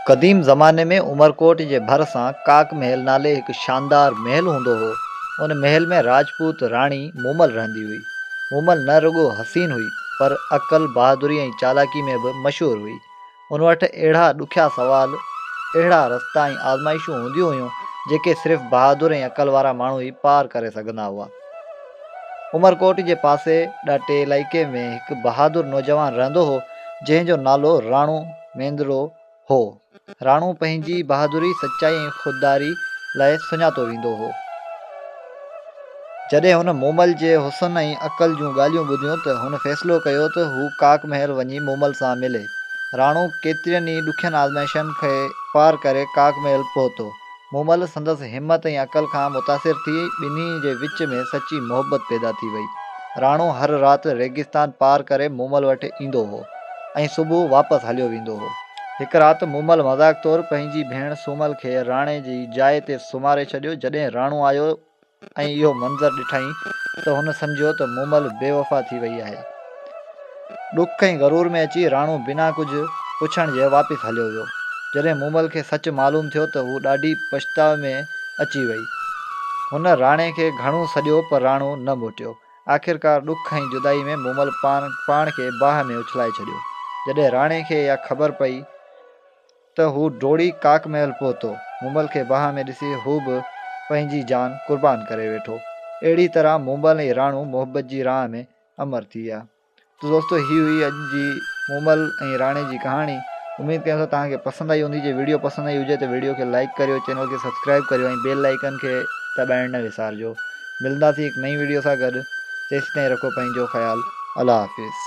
قديم زماني ۾ عمرڪوٽ جي ڀر سان ڪاڪ محل نالي هڪ شاندار محل هوندو هو. ان محل ۾ راجپوت راڻي مومل رهندي هئي. مومل نه رڳو حسين هئي پر عقل، بهادري ۽ چالاڪي ۾ به مشهور هئي. ان وٽ اهڙا ڏکيا سوال، اهڙا رستا ۽ آزمائشون هونديون هيون جيڪي صرف بهادر ۽ عقل وارا ماڻهو ئي پار ڪري سگهندا هئا. عمرڪوٽ جي پاسي ڏاٽي علائقي ۾ هڪ بهادر نوجوان رهندو هو، جنهن جو نالو راڻو ميندڙو هو. راڻو پنهنجي بهادري، سچائي ۽ خودداري لاء سڃاتو ويندو هو. جڏهن هن مومل جي حسن ۽ عقل جون ڳالهيون ٻڌيون ته هن فيصلو ڪيو ته هو ڪاڪ محل وڃي مومل سان ملي. راڻو ڪيترين ئي ڏکين آزمائشن کي پار ڪري ڪاڪ محل پهتو. مومل سندس همت ۽ عقل کان متاثر ٿي ٻنهي جي وچ ۾ سچي محبت پيدا ٿي وئي. راڻو هر رات ريگستان پار ڪري مومل وٽ ايندو هو ۽ صبح واپس هليو ويندو هو. هڪ رات مومل مذاق طور پنهنجي ڀيڻ سومل کي راڻي جي جاء تي سمهاري ڇڏيو. جڏهن راڻو آيو ۽ اهو منظر ڏٺائين ته هن سمجهيو ته مومل بي وفا ٿي وئي آهي. ڏک ۽ غرور ۾ اچي راڻو بنا ڪجهه پڇڻ جي واپس هليو ويو. جڏهن مومل کي سچ معلوم ٿيو ته هو ڏاڍي پڇتاء ۾ اچي وئي. هن راڻي کي گهڻو سڏيو پر راڻو نه موٽيو. آخرڪار ڏک ۽ جدائي ۾ مومل پاڻ کي باهه ۾ اڇلائي ڇڏيو. جڏهن راڻي کي اها خبر پئي. ته هو ڊوڙي ڪاڪ محل پهتو. مومل کي باهه ۾ ڏسي هو به پنهنجي جان قربان ڪري ويٺو. اهڙي طرح مومل ۽ راڻو محبت جي راهه ۾ امر ٿي ويا. ته دوستو هي هئي اڄ جي مومل ۽ راڻي جي ڪهاڻي. اميد ڪيون ٿا توهان کي پسند آئي هوندي. جي وڊيو پسند آئي هجي ته وڊيو کي لائيڪ ڪريو، چينل کي سبسڪرائيب ڪريو ۽ بيل آئيڪن کي دٻائڻ نه وسارجو. ملنداسين هڪ نئين وڊيو سان گڏ تيستائين رکو پنهنجو خيال. الله حافظ.